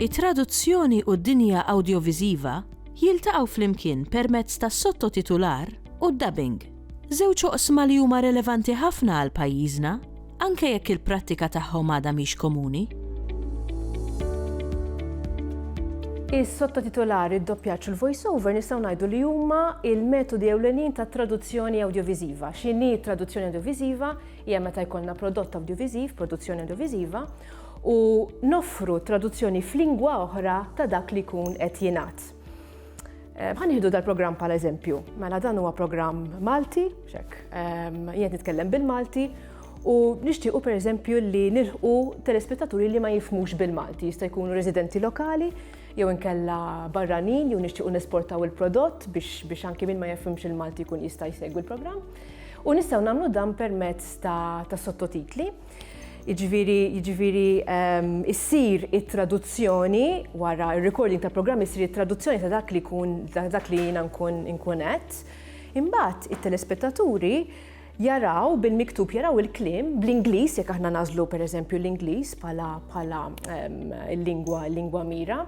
It-traduzzjoni u d-dinja awdjoviżiva jiltaqgħu flimkien permezz tas-sottotitular u d-dubbing. Żewġ oqsma li huma relevanti ħafna għal pajjiżna, anke jekk il-prattika tagħhom għadha mhix komuni. Is-sottotitolar, id-doppjaġġ u l-voiceover nistgħu ngħidu li huma l-metodi ewlenin ta' traduzzjoni awdjoviżiva. X'inhi traduzzjoni awdjoviżiva hija meta jkollna prodott awdjoviżiv, produzzjoni awdjoviżiva, u noffru traduzzjoni f'lingwa oħra ta' dak li jkun qed jingħad. Eh, ħan jihdu dal-programm pal eżempju. Mela dan huwa programm Malti, xek, ehm, jien nitkellem bil-Malti, u nixtiequ per eżempju li nilħu telespettaturi li ma jifmux bil-Malti, jista' jkunu residenti lokali, jew inkella barranin, jew nixtiequ nesportaw il-prodott biex, biex anki min ma jifhimx il-Malti jkun jista' jsegwi l-programm. U nistgħu nagħmlu dan permezz ta', ta sottotitli. Jiġifieri jiġifieri ehm, issir it-traduzzjoni wara r-recording ta' programm issir it-traduzzjoni ta' dak li jkun dak li jiena nkun inkun qed. Imbagħad it-telespettaturi jaraw bil-miktub jaraw il-klim bl-Ingliż jekk aħna nażlu pereżempju l-Ingliż bħala bħala ehm, lingwa lingwa mira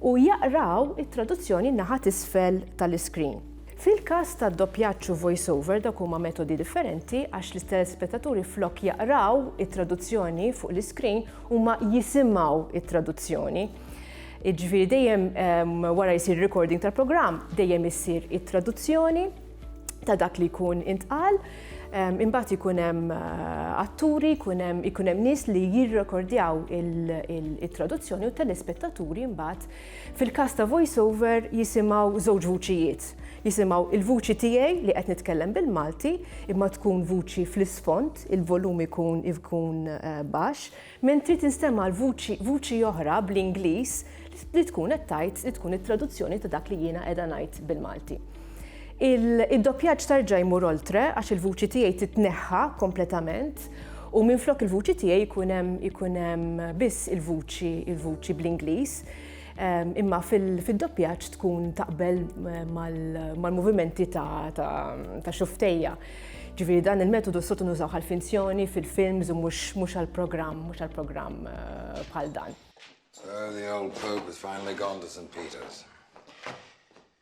u jaqraw it-traduzzjoni naħat isfel tal-iskrin. Fil-każ ta' doppjaġġ u voiceover dawk huma metodi differenti għax l-telespettaturi flok jaqraw it-traduzzjoni fuq l-iskrin huma jisimgħu t-traduzzjoni. Jiġifieri dejjem wara jsir recording tal-programm dejjem issir it-traduzzjoni ta' dak li jkun intqal. Imbagħad ikun hemm eh, atturi, ikun hemm ikun hemm nies li jirrekordjaw it-traduzzjoni u telespettaturi mbagħad Fil-każ ta' voiceover jisimgħu żewġ vuċijiet, jisimgħu il-vuċi tiegħi li qed nitkellem bil-Malti imma tkun vuċi fl-isfond, il-volum ikun ikun baxx, mentri tinstema' l-vuċi vuċi oħra bl-Ingliż li tkun qed tgħid li tkun it-traduzzjoni ta' dak li jiena qiegħda ngħid bil-Malti. Id-doppjaġġ ta' rġa' jmur oltre għax il-vuċi tiegħi titneħħa kompletament u minflok il-vuċi tiegħi jkun hemm ikun hemm biss il-vuċi il-vuċi bl-Ingliż. Ehm, imma fil-doppjaġġ tkun taqbel eh, mal-movimenti ta' xuftejja. Ġifieri dan il-metodu sotu nużaw għal-finzjoni fil-films u mhux għal-programm, mhux għal-programm eh, bħal dan. So the old Pope has finally gone to St. Peter's.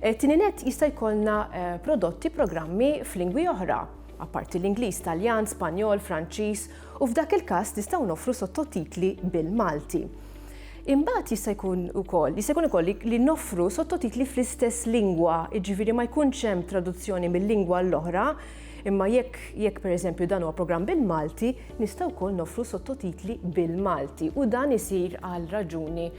Eh, Tini net jista' jkollna eh, prodotti programmi f'lingwi oħra, apparti l-Ingliż, Taljan, Spanjol, Franċiż, u f'dak il-każ nistgħu noffru sottotitli bil-Malti. Imbagħad jista' jkun ukoll, jista' jkun ukoll li noffru sottotitli fl-istess lingwa, jiġifieri ma jkunx hemm traduzzjoni mill-lingwa l-oħra, imma jekk jekk pereżempju dan huwa programm bil-Malti, nistgħu wkoll noffru sottotitli bil-Malti u dan isir għal raġuni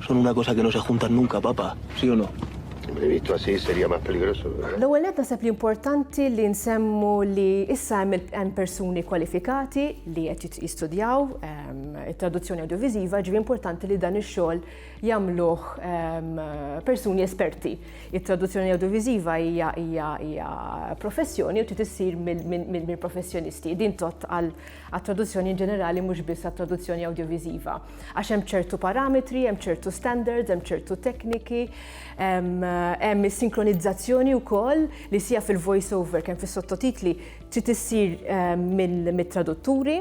Son una cosa que no se juntan nunca, papá. Sí o no? Invito a sí, sería más peligroso. L-ewwel nett naħseb li importanti li nsemmu li issa hemm hemm persuni kwalifikati li qed jistudjaw it-traduzzjoni awdjoviżiva, ġifieri importanti li dan ix-xogħol jagħmluh persuni esperti. It-traduzzjoni awdjoviżiva hija hija hija professjoni u trid issir mill-professjonisti. Din tott għal għat-traduzzjoni inġenerali mhux biss għat-traduzzjoni awdjoviżiva. Għax hemm ċertu parametri, hemm ċertu standards, hemm ċertu tekniki, hemm is-sinkronizzazzjoni wkoll li sija fil-voice over kemm fis-sottotitli trid issir mit-tradutturi.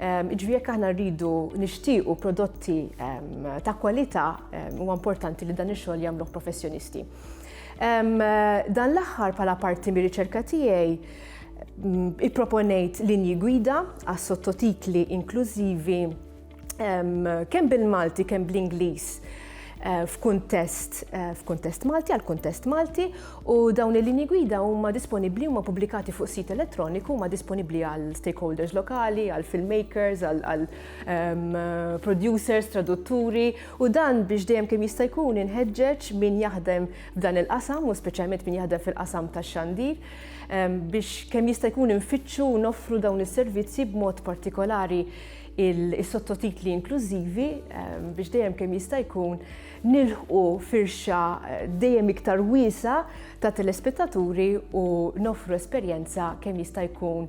Ehm, Ġvi jekk aħna rridu nixtiequ prodotti ehm, ta' kwalità ehm, huwa importanti li dan ix-xogħol jagħmluh professjonisti. Dan l-aħħar bħala parti mir-riċerka tiegħi Ipproponejt linji gwida għas sottotitli inklużivi kemm bil-Malti kemm bl-Ingliż eh, f'kuntest eh, f'kuntest Malti għal kuntest Malti u dawn il-linji gwida huma disponibbli huma pubblikati fuq sit elettroniku huma disponibbli għal stakeholders lokali, għal filmmakers, għal producers, tradutturi u dan biex dejjem kemm jista' jkun inħeġġeġ min jaħdem f'dan il-qasam u speċjalment min jaħdem fil-qasam tax-xandir biex kemm jista' jkun infittxu u noffru dawn is-servizzi b'mod partikolari il-sottotitli inklużivi ehm, biex dejjem kemm jista' jkun nilħqu firxa eh, dejjem iktar wiesa ta' telespettaturi u nofru esperjenza kemm jista' jkun